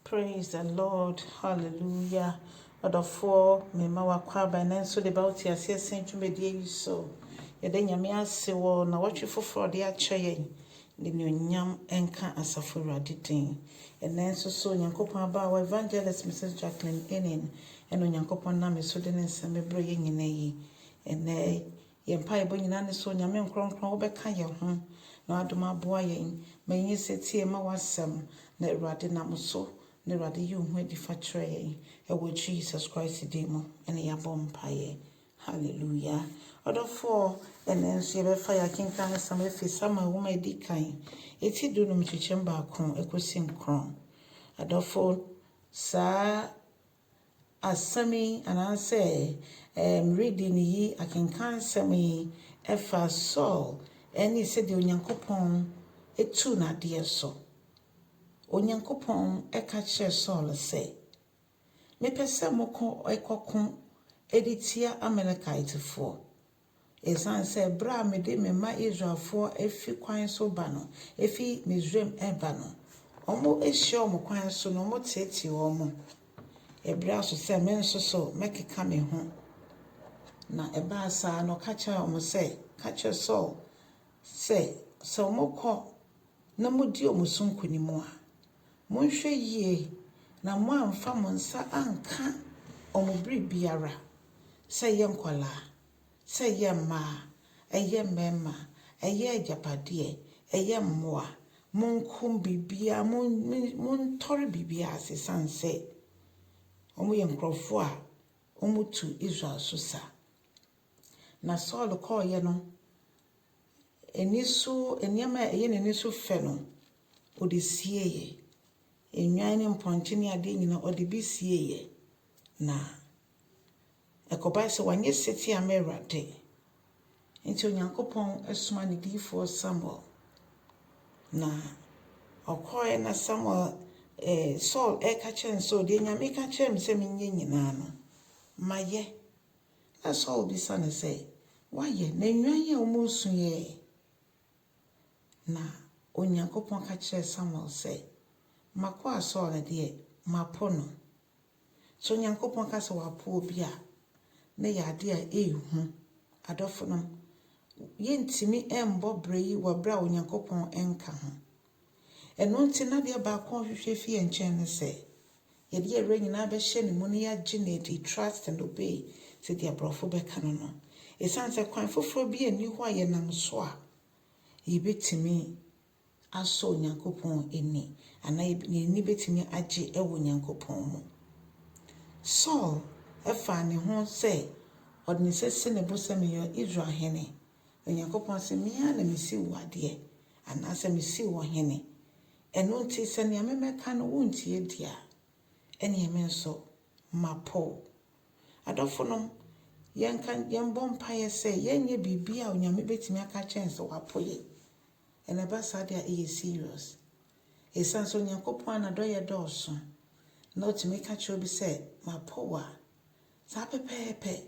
Praise the Lord hallelujah ɔdɔfoɔ me ma wakɔ aba ɛnɛ nso de ba wo te aseɛ sɛn dwumadie yi so yɛda nyame ase wɔ na wɔtwe foforɔ ɔde akyɛ yɛn de nuonyam ɛnka asafo awurade din ɛnɛ nso so onyankopɔn aba wɔ evangelist Mrs. Jacqueline Enin ɛna onyankopɔn nam so de ne nsɛm bɛbrɛ yɛ nyina yi ɛnɛ Yɛn mpaebɔ nyinaa ne sɛ Onyame nkrɔnkrɔn wobɛka yɛn ho na w'adom aboa yɛn ma yɛnyɛ setie mma w'asɛm na Awurade nam wo so na Awurade yi wo ho adi fa kyerɛ yɛn ɛwɔ Jesus Christ din mu ɛne yɛabɔ mpaeɛ Hallelujah Ɔdɔfoɔ ɛnɛ nso yɛbɛfa yɛ akenkan nsɛm afiri Samuel nwoma ɛdi kan ɛti du num kyekyɛm baako ɛkɔsi nkron Adɔfo saa Asɛm yi anaasɛ ɛɛm reading yi, akenkansɛm yi fa Saul ne sɛdeɛ Onyankopɔn tuu no adeɛ so. Onyankopɔn ka kyerɛɛ Saul sɛ, Mepɛ sɛ mokɔ kɔko de tia Amalekitefoɔ. Esiane sɛ bere a mede me mma Israelfoɔ afi kwan so ba no, efi Misraim reba no, wɔahyia wɔn kwan so na wɔteetee wɔn, ɛbere aso sɛ me nso so mɛkeka me ho. Na ɛbaa saa na ɔka kyerɛɛ wɔn sɛ, Ka kyerɛ Saul sɛ, sɛ wɔkɔ na modi wɔn so nkonim a, Monhwɛ yie na moanfa mo nsa anka wɔn bere biara, sɛ ɛyɛ nkwadaa, sɛ ɛyɛ mmaa, ɛyɛ mmarima, ɛyɛ agyapadeɛ, ɛyɛ mmoa, monko biribiara, montɔre biribiara ase ɛsiane sɛ wɔyɛ nkurɔfoɔ a wɔtu Israel so sa. Na Saul kɔeɛ no, Ani so nneɛma a ɛyɛ n'ani so fɛ no, ɔde sieeɛ. Nnwan ne mpɔnkye ne adeɛ nyinaa, ɔde bi sieeɛ. Na ɛkɔbae sɛ wanyɛ setie amma Awurade. Enti Onyankopɔn somaa ne diyifoɔ Samuel, na ɔkɔeɛ na Samuel, eh, Saul reka kyerɛ no sɛ, deɛ Nyame ka kyerɛɛ me sɛ menyɛ nyinaa no, mayɛ. Na Saul bisa no sɛ, Woayɛ na nnwan a wɔresu ɛ? Na Onyankopɔn ka kyerɛɛ Samuel sɛ, M'akoa Saul no deɛ, mapo no. Sɛ Onyankopɔn ka sɛ wapo obi a, na ɛyɛ adeɛ a ɛyɛ hu. Adɔfonom, yɛntumi mmɔ bra yi wɔ berɛ a Onyankopɔn nka ho. Ɛno nti, na adeɛ baako a ɔhwehwɛ firi yɛn nkyɛn ne sɛ, yɛde yɛn werɛ nyinaa bɛhyɛ ne mu na yɛagye no adi, trust and obey, sɛdeɛ Aborɔfo bɛka no no. Ɛsiane sɛ kwan foforɔ biara nni hɔ a yɛnam so a yɛbɛtumi asɔ Onyankopɔn ani anaa yɛn ani bɛtumi agye wɔ Onyankopɔn mu. Saul faa ne ho sɛ ɔde ne nsa si ne bo sɛ meyɛ Israel hene. Onyankopɔn se, Me ara na mesiw wo adeɛ, anaasɛ mesiw wo hene. Ɛno nti, sɛ nea memɛka no wontie deɛ a, ɛneɛ me nso, mapo wo. Adɔfonom, yɛnka, yɛmbɔ mpaeɛ sɛ yɛnyɛ biribiara a Onyame bɛtumi aka akyerɛ yɛn sɛ wapo yɛn. Na ɛba saa deɛ a, ɛyɛ serious. Esiane sɛ Onyankopɔn a N'adɔeɛ dɔɔso, na Ɔtumi ka kyerɛ obi sɛ, Mapo wo a, saa pɛpɛɛpɛ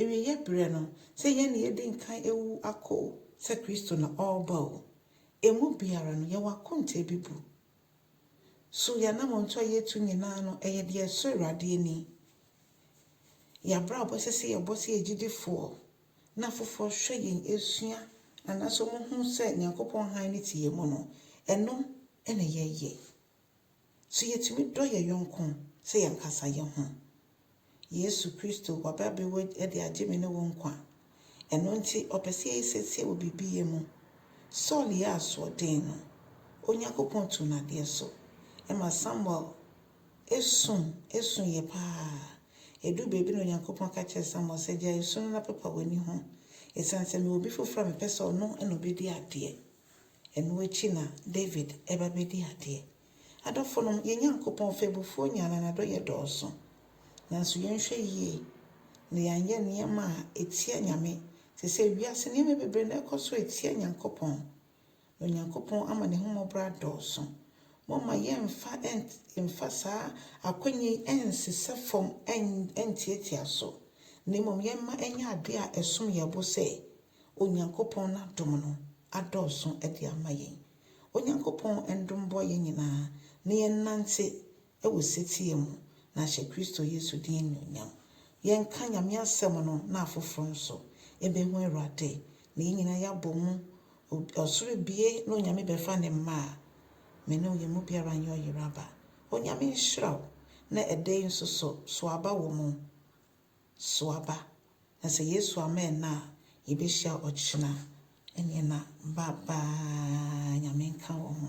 Awieɛ berɛ no, sɛ yɛn na yɛdi nkan awu akɔ o, sɛ Kristo na ɔreba o, ɛmu biara no, yɛwɔ akonta a ɛbebu. So yɛn anammɔntuo a yɛretu nyinaa no, ɛyɛ deɛ ɛsɔ Awurade ani? Yɛn abrabɔ a ɛsɛ sɛ yɛbɔ sɛ yɛn agyidifoɔ na afoforɔ hwɛ yɛn sua anaasɛ wɔhu sɛ Nyankopɔn hann no te yɛn mu no, ɛno na yɛyɛ? So yetumi dɔ yɛn yɔnko sɛ yɛn ankasa yɛn ho? Yesu Kristo, waba abewu de agye me ne wo nkwa. Ɛno nti, ɔpɛ sɛ yɛyɛ siesie wɔ biribi yɛ mu. Saul yɛɛ asoɔden no, Onyankopɔn tuu no adeɛ so. Ɛma Samuel sum suiɛ paa. Ɛduu baabi na Onyankopɔn ka kyerɛɛ Samuel sɛ, Gyae su no na pepa w'ani ho, ɛsiane sɛ mewɔ obi foforɔ a mepɛ sɛ ɔno na ɔbɛdi adeɛ. Ɛno akyi na David ba bɛdi adeɛ. Adɔfonom, yɛn Nyankopɔn ɔfɛbufoɔ nyaa na n'adɔeɛ dɔɔso. Nanso yɛnhwɛ yie na yɛanyɛ nneɛma a ɛtia Nyame, te sɛ wiase nneɛma bebree na ɛkɔ so ɛtia Nyankopɔn, na Onyankopɔn ama n'ahummɔborɔ adɔɔso. Momma yɛmfa yɛmfa saa akwanya yi ɛnsesɛ fam ɛntiatia so, na mmom yɛmma ɛnyɛ adeɛ a ɛsom yɛn bo sɛ Onyankopɔn n'adom no adɔɔso de ama yɛn. Onyankopɔn ndom bɔ yɛn nyinaa na yɛnnante wɔ setie mu na ahyɛ Kristo Yesu din anuonyam. Yɛnka Nyame asɛm no na afoforo nso ɛbɛhu Awurade na yɛn nyinaa yɛabɔ mu, ɔsoro abue na Onyame bɛfa ne mma a, me ne wo yɛn mu biara nyɛ ɔyeraba. Onyame nhyira wo na ɛda yi nso so, sow aba wɔ mu. so aba, na sɛ Yesu amma ɛnnɛ a, yɛbɛhyia ɔkyena. Ɛnneɛ na ba baa Nyame nka wɔ ho.